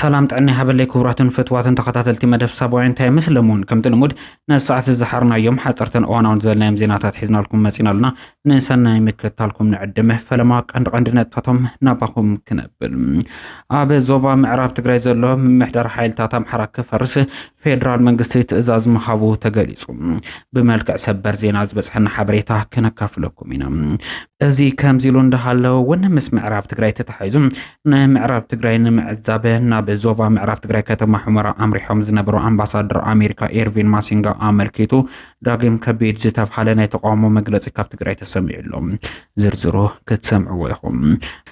ሰላም ጥዕና ይሃበለይ ክቡራትን ፍትዋትን ተኸታተልቲ መደብ ሳባውያን ታይምስ ለሙን ከምቲ ልሙድ ነዚ ሰዓት ዝሓርናዮም ሓፀርትን እዋናውን ዝበልናዮም ዜናታት ሒዝናልኩም መፂና ኣሉና ንሰናይ ምክትታልኩም ንዕድመ ፈለማ ቀንዲ ቀንዲ ነጥታቶም ናባኹም ክነብል ኣብ ዞባ ምዕራብ ትግራይ ዘሎ ምምሕዳር ሓይልታት ኣምሓራ ክፈርስ ፌደራል መንግስቲ ትእዛዝ ምሃቡ ተገሊጹ። ብመልክዕ ሰበር ዜና ዝበጽሐና ሓበሬታ ከነካፍለኩም ኢና። እዚ ከምዚ ኢሉ እንዳሃለወ እውን ምስ ምዕራብ ትግራይ ተታሒዙ ንምዕራብ ትግራይ ንምዕዛብ ናብ ዞባ ምዕራብ ትግራይ ከተማ ሑመራ ኣምሪሖም ዝነበሩ ኣምባሳደር ኣሜሪካ ኤርቪን ማሲንጋ ኣመልኪቱ ዳግም ከቢድ ዝተብሃለ ናይ ተቃውሞ መግለፂ ካብ ትግራይ ተሰሚዑ ኣሎ። ዝርዝሩ ክትሰምዕዎ ኢኹም።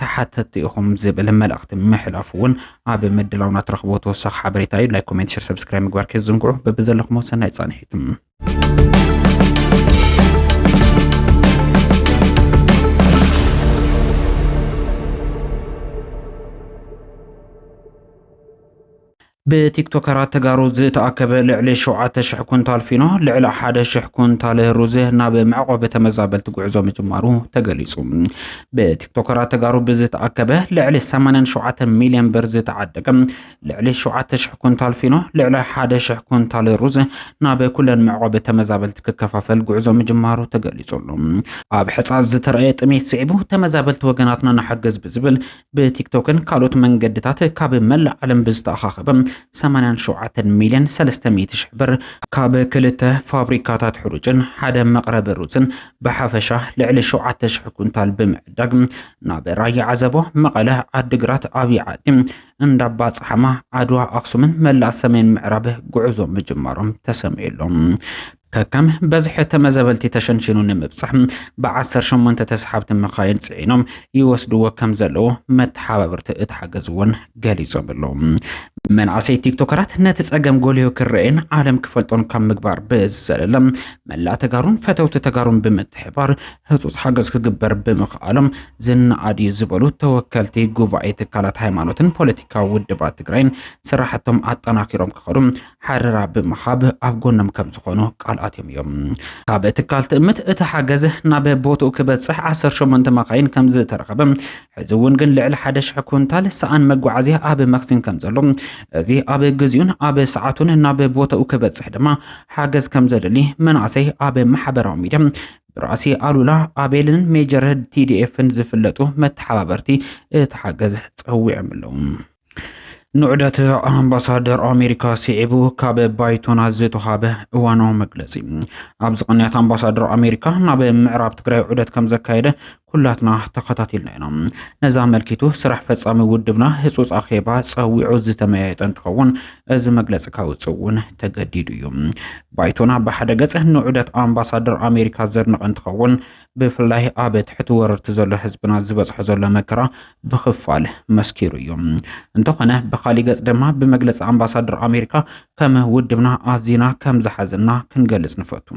ተሓተቲ ኢኹም ዝብል መልእኽቲ ምሕላፉ እውን ኣብ ምድላውና ትረኽቦ ተወሳኺ ሓበሬታ እዩ። ላይክ፣ ኮሜንት፣ ሸር፣ ሰብስክራይብ ምግባር ከይትዝንግዑ። በብዘለኹም ሰናይ ጻንሒት ብቲክቶከራት ተጋሩ ዝተኣከበ ልዕሊ ሸውዓተ ሽሕ ኩንታል ፊኖ፣ ልዕሊ ሓደ ሽሕ ኩንታል ሩዝ ናብ መዕቆቢ ተመዛበልቲ ጉዕዞ ምጅማሩ ተገሊጹ። ብቲክቶከራት ተጋሩ ብዝተኣከበ ልዕሊ 87 ሚልዮን ብር ዝተዓደገ ልዕሊ ሸውዓተ ሽሕ ኩንታል ፊኖ፣ ልዕሊ ሓደ ሽሕ ኩንታል ሩዝ ናብ ኩለን መዕቆቢ ተመዛበልቲ ክከፋፈል ጉዕዞ ምጅማሩ ተገሊጹ ኣሎ። ኣብ ሕጻ ዝተረኣየ ጥሜት ስዒቡ ተመዛበልቲ ወገናትና ንሓግዝ ብዝብል ብቲክቶክን ካልኦት መንገድታት ካብ መላእ ዓለም ብዝተኣኻኸበ 87 ሚልዮን 300 ሽሕ ብር ካብ ክልተ ፋብሪካታት ሕሩጭን ሓደ መቕረቢ ሩዝን ብሓፈሻ ልዕሊ 7,000 ኩንታል ብምዕዳግ ናብ ራያ ዓዘቦ፣ መቐለ፣ ዓዲግራት፣ ዓብዪ ዓዲ፣ እንዳባ ጸሓማ፣ ዓድዋ፣ ኣክሱምን መላእ ሰሜን ምዕራብ ጉዕዞ ምጅማሮም ተሰሚዑሎም። ከከም በዝሒ ተመዘበልቲ ተሸንሺኑ ንምብጻሕ ብዓሰርተ ሸሞንተ ተስሓብቲ መኻይን ጽዒኖም ይወስድዎ ከም ዘለዉ መተሓባበርቲ እቲ ሓገዝ እውን ገሊጾም ኣለዉ። መናእሰይ ቲክቶከራት ነቲ ጸገም ጎልዮ ክረኤን ዓለም ክፈልጦን ካብ ምግባር ብዝዘለለ መላእ ተጋሩን ፈተውቲ ተጋሩን ብምትሕባር ህጹጽ ሓገዝ ክግበር ብምኽኣሎም ዝነኣድ እዩ ዝበሉ ተወከልቲ ጉባኤ ትካላት ሃይማኖትን ፖለቲካዊ ውድባት ትግራይን ስራሕቶም ኣጠናኪሮም ክኸዱ ሓረራ ብምሃብ ኣብ ጎኖም ከም ዝኾኑ ቃል ኣትዮም እዮም። ካብ ትካል ትእምት እቲ ሓገዝ ናብ ቦትኡ ክበፅሕ 18 መኻይን ከም ዝተረኸበ ሕዚ እውን ግን ልዕሊ ሓደ ሽሕ ኩንታል ሰኣን መጓዓዝያ ኣብ መክሲን ከም ዘሎ እዚ ኣብ ግዜኡን ኣብ ሰዓቱን ናብ ቦታኡ ክበፅሕ ድማ ሓገዝ ከም ዘድሊ መናእሰይ ኣብ ማሕበራዊ ሚዲያ ብራእሲ ኣሉላ ኣቤልን ሜጀር ቲዲኤፍን ዝፍለጡ መተሓባበርቲ እቲ ሓገዝ ፀዊዖም ኣለዉ። ንዑደት ኣምባሳደር ኣሜሪካ ስዒቡ ካብ ባይቶና ዝተዋሃበ እዋናዊ መግለፂ ኣብዚ ቅንያት ኣምባሳደር ኣሜሪካ ናብ ምዕራብ ትግራይ ዑደት ከም ዘካየደ ኩላትና ተኸታቲልና ኢና ነዚ ኣመልኪቱ ስራሕ ፈፃሚ ውድብና ህፁፅ ኣኼባ ፀዊዑ ዝተመያየጠ እንትኸውን እዚ መግለፂ ካውፅእ እውን ተገዲዱ እዩ ባይቶና ብሓደ ገፅ ንዑደት ኣምባሳደር ኣሜሪካ ዘድንቐ እንትኸውን ብፍላይ ኣብ ትሕቲ ወረርቲ ዘሎ ህዝብና ዝበፅሖ ዘሎ መከራ ብኽፋል መስኪሩ እዩ። እንተኾነ ብኻሊእ ገፅ ድማ ብመግለፂ ኣምባሳደር ኣሜሪካ ከም ውድብና ኣዚና ከም ዝሓዘና ክንገልፅ ንፈቱ።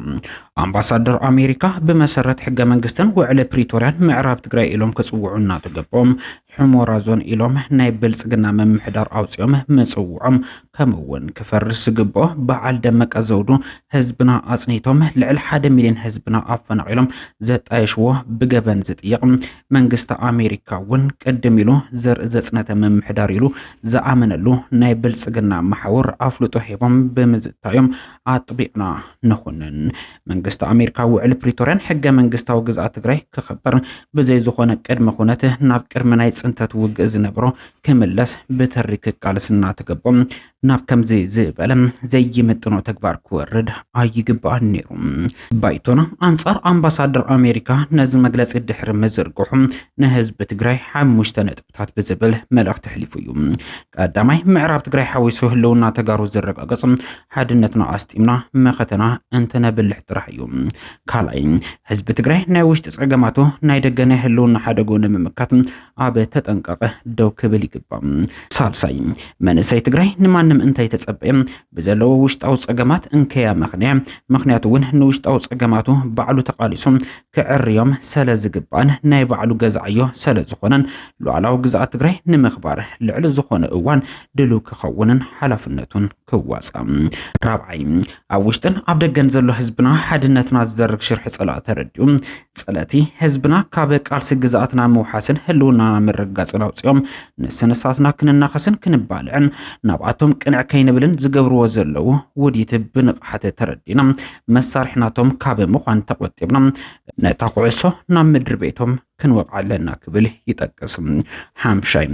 ኣምባሳደር ኣሜሪካ ብመሰረት ሕገ መንግስትን ውዕሊ ፕሪቶርያን ምዕራብ ትግራይ ኢሎም ክፅውዑ እናተገቦም ሑሞራ ዞን ኢሎም ናይ ብልፅግና ምምሕዳር ኣውፂኦም ምፅውዖም ከምኡ እውን ክፈርስ ዝግብኦ በዓል ደመቀ ዘውዱ ህዝብና ኣፅኒቶም ልዕሊ ሓደ ሚሊዮን ህዝብና ኣፈናቒሎም ዘጣየሽዎ ብገበን ዝጥየቕ መንግስቲ ኣሜሪካ እውን ቅድም ኢሉ ዘርኢ ዘፅነተ ምምሕዳር ኢሉ ዝኣመነሉ ናይ ብልፅግና መሓውር ኣፍልጦ ሂቦም ብምዝታዮም ኣጥቢቕና ንኹንን። መንግስቲ ኣሜሪካ ውዕሊ ፕሪቶርያን ሕገ መንግስታዊ ግዝኣት ትግራይ ክኽበር ብዘይ ዝኾነ ቅድመ ኩነት ናብ ቅድሚ ናይ ፅንተት ውግእ ዝነበሮ ክምለስ ብትሪ ክቃልስ እናተገቦ ናብ ከምዚ ዝበለ ዘይምጥኖ ተግባር ክወርድ ኣይግባእን ነይሩ። ባይቶና ኣንጻር ኣምባሳደር ኣሜሪካ ነዚ መግለጺ ድሕሪ ምዝርግሑ ንህዝቢ ትግራይ ሓሙሽተ ነጥብታት ብዝብል መልእኽቲ ኣሕሊፉ እዩ። ቀዳማይ ምዕራብ ትግራይ ሓዊሱ ህልውና ተጋሩ ዝረጋገጽ ሓድነትና ኣስጢምና መኸተና እንተነብልሕ ጥራሕ እዩ። ካልኣይ ህዝቢ ትግራይ ናይ ውሽጢ ጸገማቱ ናይ ደገ ናይ ህልውና ሓደጎ ንምምካት ኣብ ተጠንቀቐ ደው ክብል ይግባእ። ሳልሳይ መንእሰይ ትግራይ ንማንም እንተይተጸበየ ብዘለዎ ውሽጣዊ ጸገማት እንከያ መኽንያ ምክንያቱ እውን ንውሽጣዊ ጸገማቱ ባዕሉ ተቓሊሱ ክዕርዮም ሰለ ዝግባእን ናይ ባዕሉ ገዛ ዕዮ ሰለ ዝኾነን ሉዓላዊ ግዝኣት ትግራይ ንምኽባር ልዕሊ ዝኾነ እዋን ድልው ክኸውንን ሓላፍነቱን ክዋፃእ። ራብዓይ፣ ኣብ ውሽጥን ኣብ ደገን ዘሎ ህዝብና ሓድነትና ዝዘርግ ሽርሒ ፀላእ ተረዲኡ ፀለእቲ ህዝብና ካብ ቃልሲ ግዝኣትና ምውሓስን ህልውናና ምርግጋፅን ኣውፂኦም ንስንሳትና ክንናኸስን ክንባልዕን ናብኣቶም ቅንዕ ከይንብልን ዝገብርዎ ዘለዉ ውዲት ብንቕሓት ተረዲና መሳርሕናቶም ካብ ምዃን ተቖጢብና ነታ ኩዕሶ ናብ ምድሪ ቤቶም ክንወቕዕ ኣለና ክብል ይጠቅስ። ሓምሻይ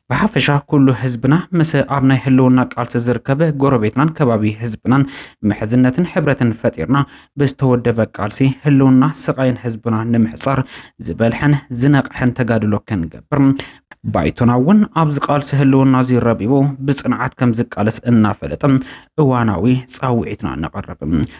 ብሓፈሻ ኩሉ ህዝብና ምስ ኣብ ናይ ህልውና ቃልሲ ዝርከብ ጎረቤትናን ከባቢ ህዝብናን ምሕዝነትን ሕብረትን ፈጢርና ብዝተወደበ ቃልሲ ህልውና ስቓይን ህዝብና ንምሕፃር ዝበልሐን ዝነቕሐን ተጋድሎ ክንገብር ባይቶና እውን ኣብዚ ቃልሲ ህልውና እዚ ረቢቡ ብፅንዓት ከም ዝቃለስ እናፈለጠ እዋናዊ ፃውዒትና ነቐርብ።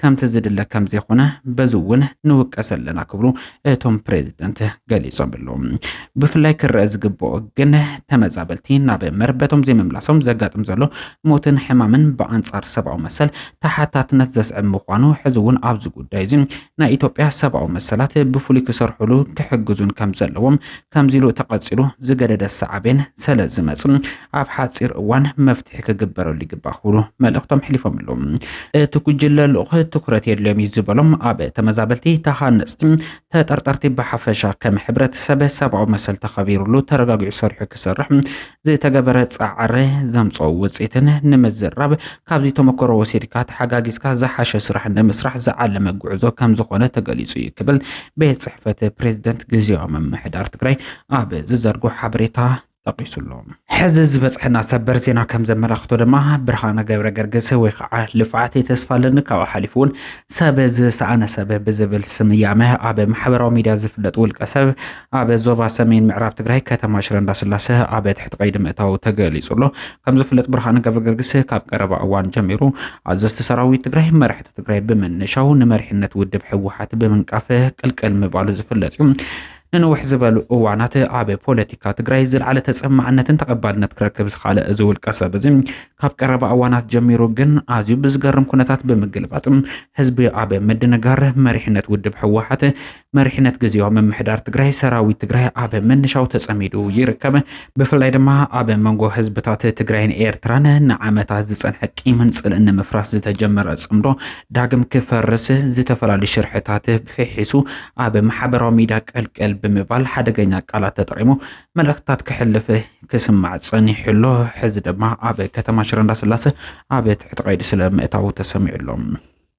ከምቲ ዝድለ ከምዘይኾነ በዚ እውን ንውቀስ ኣለና ክብሉ እቶም ፕሬዝደንት ገሊፆም ኣለዉ። ብፍላይ ክረአ ዝግብኦ ግን ተመዛበልቲ ናብ መርበቶም ዘይምምላሶም ዘጋጥም ዘሎ ሞትን ሕማምን ብኣንፃር ሰብኣዊ መሰል ተሓታትነት ዘስዕብ ምዃኑ ሕዚ እውን ኣብዚ ጉዳይ እዚ ናይ ኢትዮጵያ ሰብኣዊ መሰላት ብፍሉይ ክሰርሑሉ ክሕግዙን ከምዘለዎም ከምዚ ኢሉ ተቐጺሉ ዝገደደ ሳዕቤን ሰለ ዝመጽእ ኣብ ሓጺር እዋን መፍትሒ ክግበረሉ ይግባእ ክብሉ መልእኽቶም ኣሕሊፎም ኣለዉ። እቲ ጉጅለ ልኡኽ ትኩረት የድልዮም እዩ ዝበሎም ኣብ ተመዛበልቲ፣ ተሃነጽቲ፣ ተጠርጠርቲ ብሓፈሻ ከም ሕብረተሰብ ሰብኣዊ መሰል ተኸቢርሉ ተረጋጊዑ ሰሪሑ ክሰርሕ ዝተገበረ ፃዕሪ ዘምፀኦ ውፅኢትን ንምዝራብ ካብዚ ተመክሮ ወሲድካ ተሓጋጊዝካ ዝሓሸ ስራሕ ንምስራሕ ዝዓለመ ጉዕዞ ከምዝኾነ ተገሊፁ እዩ ክብል ቤት ፅሕፈት ፕሬዝደንት ግዝያዊ ምምሕዳር ትግራይ ኣብ ዝዘርጎ ሓበሬታ ጠቂሱ ኣሎ። ሕዚ ዝበፅሐና ሰበር ዜና ከም ዘመላኽቶ ድማ ብርሃነ ገብረ ገርግስ ወይ ከዓ ልፍዓት ተስፋ ኣለኒ ካብኡ ሓሊፉ እውን ሰብ ዝሰኣነ ሰብ ብዝብል ስያመ ኣብ ማሕበራዊ ሚዲያ ዝፍለጥ ውልቀ ሰብ ኣብ ዞባ ሰሜን ምዕራብ ትግራይ ከተማ ሽረ እንዳስላሰ ኣብ ትሕቲ ቀይዲ ምእታው ተገሊጹ ኣሎ። ከም ዝፍለጥ ብርሃነ ገብረገርግስ ካብ ቀረባ እዋን ጀሚሩ ኣዘዝቲ ሰራዊት ትግራይ መራሕቲ ትግራይ ብምንሻው ንመሪሕነት ውድብ ህወሓት ብምንቃፍ ቅልቅል ምባሉ ዝፍለጥ እዩ። ንንውሕ ዝበሉ እዋናት ኣብ ፖለቲካ ትግራይ ዝለዓለ ተፀማዕነትን ተቐባልነት ክረክብ ዝኸኣለ እዚ ውልቀ ሰብ እዚ ካብ ቀረባ እዋናት ጀሚሩ ግን ኣዝዩ ብዝገርም ኩነታት ብምግልባጥ ህዝቢ ኣብ ምድንጋር መሪሕነት ውድብ ህወሓት መሪሕነት ግዜያዊ ምምሕዳር ትግራይ ሰራዊት ትግራይ ኣብ ምንሻው ተጸሚዱ ይርከብ። ብፍላይ ድማ ኣብ መንጎ ህዝብታት ትግራይን ኤርትራን ንዓመታት ዝጸንሐ ቂምን ጽልእን ንምፍራስ ዝተጀመረ ጽምዶ ዳግም ክፈርስ ዝተፈላለዩ ሽርሕታት ፍሒሱ ኣብ ማሕበራዊ ሚድያ ቀልቀል ብምባል ሓደገኛ ቃላት ተጠቂሙ መልእኽትታት ክሕልፍ ክስማዕ ጸኒሑ ኣሎ። ሕዚ ድማ ኣብ ከተማ ሽረ እንዳስላሰ ኣብ ትሕቲ ቀይዲ ስለ ምእታዉ ተሰሚዑ ኣሎ።